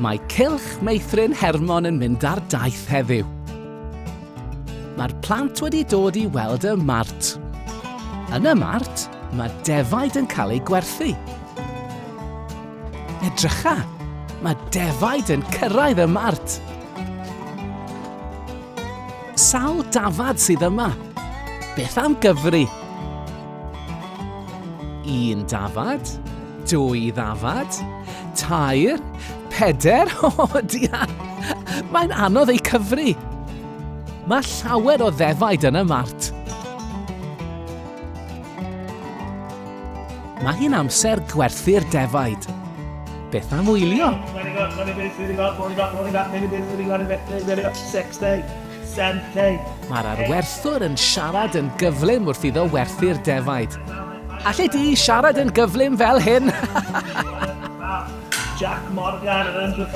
Mae Cylch Meithrin Hermon yn mynd ar daith heddiw. Mae'r plant wedi dod i weld y mart. Yn y mart, mae defaid yn cael eu gwerthu. Edrycha, mae defaid yn cyrraedd y mart. Sawl dafad sydd yma? Beth am gyfri? Un dafad, dwy ddafad, tair, peder, o oh, dia! Mae'n anodd ei cyfri. Mae llawer o ddefaid yn y mart. Mae hi'n amser gwerthu'r defaid. Beth am wylio? Mae'r arwerthwr yn siarad yn gyflym wrth iddo werthu'r defaid. Alle di siarad yn gyflym fel hyn? Jack Morgan yn Andrew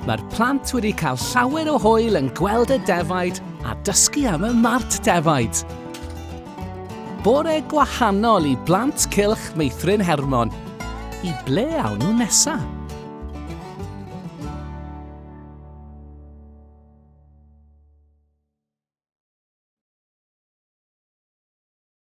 Mae'r plant wedi cael llawer o hwyl yn gweld y defaid a dysgu am y mart defaid. Bore gwahanol i blant cylch Meithrin Hermon. I ble awn nhw nesaf?